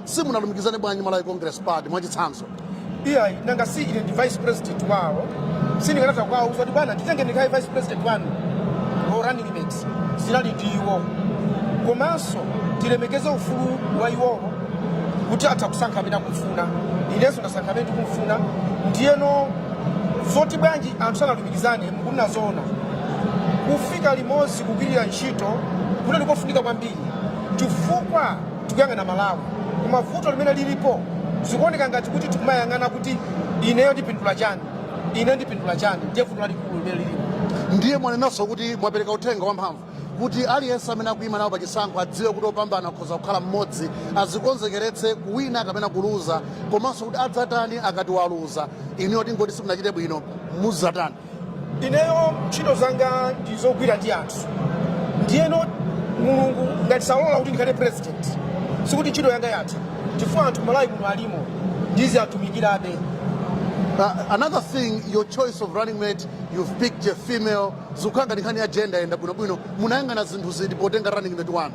simunalumikizane bwanji malawi congress party mwachitsanzo iyayi nanga si ine ndi vice president wawo? sindingatha kuwauza kuti bwana nditenge ndikhale vice president wanu no running mate zinali ndi iwowo komanso tilemekeze ufulu wa iwowo kuti atha kusankha amene akumfuna inenso ndasankha amene ndikumfuna ndiyeno zoti bwanji anthu sanalumikizane mukunena zoona kufika limodzi kugwirira ntchito kunali kofunika kwambiri chifukwa Tikuyang'ana Malawi koma vuto limene lilipo zikuoneka ngati kuti tikumayang'ana kuti ineyo ndipindula chani, ineyo ndipindula chani ndiye vuto lalikulu limene lilipo. Ndiye mwanenanso kuti mwapereka uthenga wamphamvu kuti aliyense amene akuima nawo pachisankho adziwe kuti opambana akhoza kukhala mmodzi, azikonzekeretse kuwina kapena kuluza komanso kuti adzatani akati waluza. Inuyo tingoti simunachite bwino, mudzatani? ineyo ntchito zanga ndi zogwira ndi anthu ndiyeno mulungu ngati salola kuti ndikhale president sikuti ntchito yanga yatha chifukwa anthu kumalawi kuno alimo ndiziwatumikirabe Uh, another thing, your choice of running mate, you've picked a female. Zikukhudzana ndi nkhani ya gender yenda bwino bwino. Munayanga na zinthu ziti potenga running mate wanu.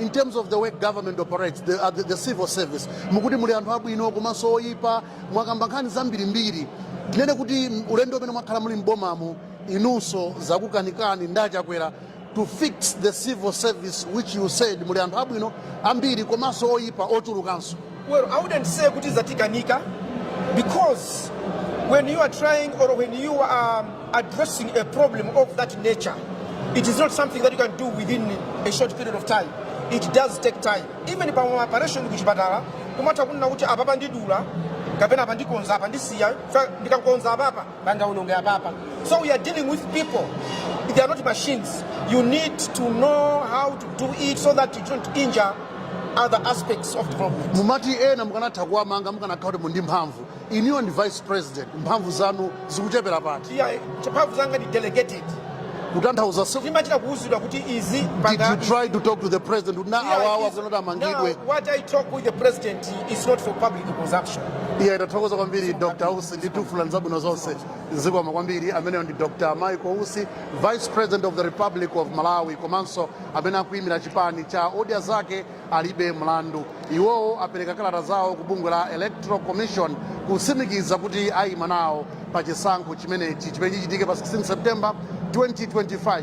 in terms of the way government operates the, uh, the, the civil service mukuti muli anthu abwino komanso oyipa mwakamba nkhani zambirimbiri tinene kuti ulendo umene mwakhala muli m'bomamu inunso zakukanikani ndi a Chakwera to fix the civil service which you said muli anthu abwino ambiri komanso oyipa ochulukanso Well, I wouldn't say kuti zatikanika because when you are trying or when you are addressing a problem of that nature, it is not something that you can do within a short period of time. It does take time. Even pa operation kuchipatala, kumatha kunena kuti apapa ndidula kapena apa ndikonza apa ndisiya fa- ndikakonza apapa pangaonongeke apapa so we are dealing with people they are not machines you need to know how to do it so that you don't injure other aspects of development mumati ena mukanatha kuwamanga mukanakhala kuti muli ndi mphamvu inuyo ndi vice president mphamvu zanu zikuchepera pati iyayi mphamvu zanga ndi delegated kutanthauza si- timachita kuuzidwa kuti izi did you try to talk to the president kuti na awawa kunoti Now, amangidwe what I talk with the president is not for public consumption. ayi tathokoza kwambiri dr usi tikufunirani zabwino zonse zikomo kwambiri ameneyo ndi dr michael usi vice president of the republic of malawi komanso amene akuyimira chipani cha odya zake alibe mlandu. Iwowo apereka kalata zawo ku bungwe la Electoral Commission kutsimikiza kuti ayima nawo pa chisankho chimenechi chimene chichitike pa 16 September 2025.